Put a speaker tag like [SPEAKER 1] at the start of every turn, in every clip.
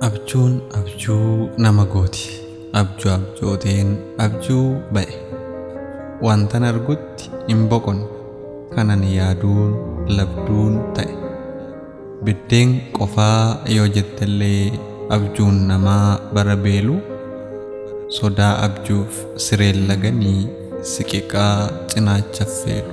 [SPEAKER 1] Abjuun abjuu nama gooti. Abjuu abjooteen abjuu ba'e. Wantan argutti hin boqonne. Kanan yaaduun labduun ta'e. Biddeen qofaa yoo jettellee abjuun namaa bara beelu sodaa abjuuf sireen laganii siqiqaa cinaacha affeelu.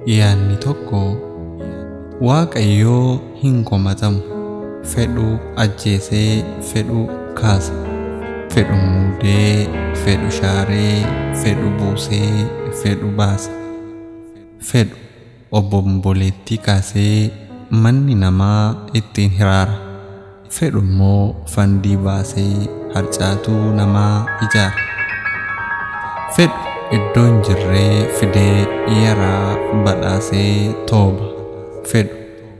[SPEAKER 1] Yaanni tokko, Waaqayyoo hin komatamu. Fedhu ajjeesee fedhu kaasa. Fedhu muudee fedhu shaaree fedhu buusee fedhu baasa. Fedhu obomboleettii kaasee manni namaa ittiin hiraara. fedhu immoo fandii baasee harcaatuu namaa ijaara. fedhu iddoo hin jirree fidee yaraa badhaasee tooba. fedhu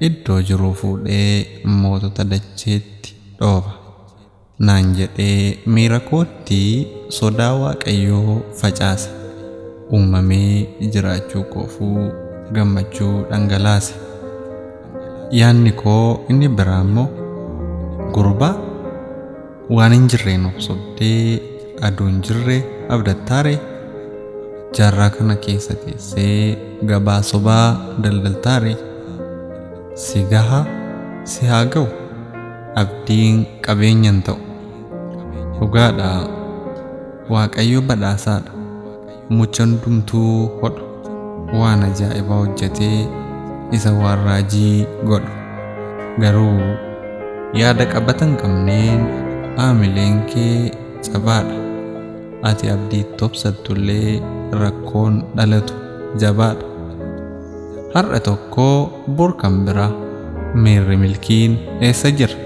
[SPEAKER 1] iddoo jiruu fuudhee mootota dacheetti dhooba. naan jedhee miira kootti sodaa waaqayyoo facaase. uumamee jiraachuu koofuu gammachuu dhangalaase. Yaanni koo inni biraa immoo gurbaa waan hin jirreen of sobdee aduu hin jirre abdattaare jaarraa kana keessa teessee gabaa sobaa daldaltaare si gaha si haa ga'u abdiin qabeenya hin ta'u dhugaadha waaqayyo badhaasaadha Muchan dumtuu hodhu waan ajaa'ibaa hojjatee isa waan raajii godhu garuu yaada qabatan qabneen aamileen kee jabaadha ati abdii tobsattullee rakkoon dhalatu jabaadha Har'a tokko bor kan bira miirri milkiin eessa jira?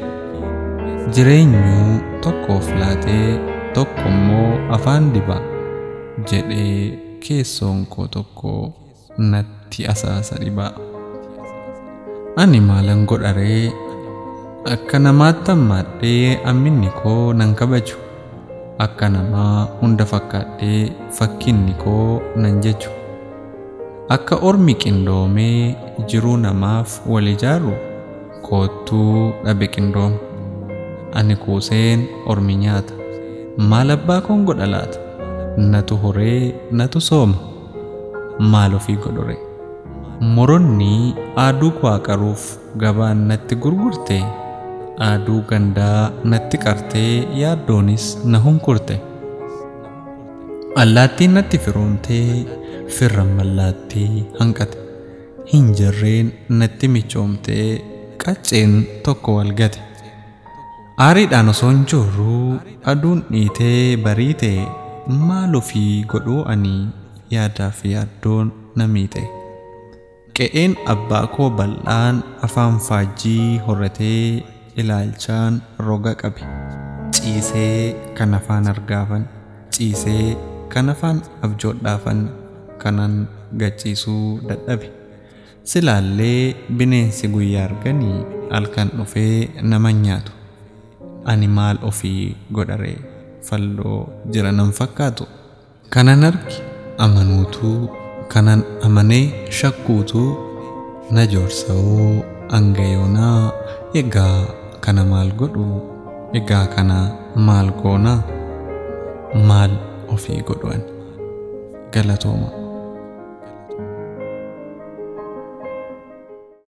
[SPEAKER 1] Jireenyuu tokkoof laatee tokkommoo afaan diba jedhee keessoon koo tokko natti asaasa dhiba. Ani maalan godharee akka namaatti hammaadhee amminni koo nan kabaju akka namaa hunda fakkaadhee fakkinni koo nan jechu. Akka ormi qindoomee jiruu namaaf wal ijaaru koottuu dhabe qindooma. Ani kuuseen ormi nyaata. Maal abbaa koon godha laata? Natu horee natu sooma. Maal ofii godhuree? Moronni aaduu koo aqaruuf gabaan natti gurgurte, aaduu gandaa natti qartee yaaddoonis na hunkurte. Allaattiin natti firoomtee firran mallaattii hanqate. Hin jarreen natti michoomtee qacceen tokko wal gate. Aariidhaan osoon joorruu aduun dhiitee bariite maal ofii godhuu ani yaadaaf yaaddoon na miite. Qe'een abbaa koo bal'aan afaan faajjii horratee ilaalchaan roga qabe. Ciisee kan afaan argaafan, ciisee kan afaan abjoodhaafan kanan gachiisuu dadhabe. Silaallee bineensi guyyaa argani halkan dhufee nama hin nyaatu. Ani maal ofii godharee? Falloo jira nan fakkaatu? Kanan arge amanuutu kanan amane shakkuutu na joorsa'oo hanga yoonaa egaa kana maal godhu egaa kana maal goona maal ofii godhu ani galatooma.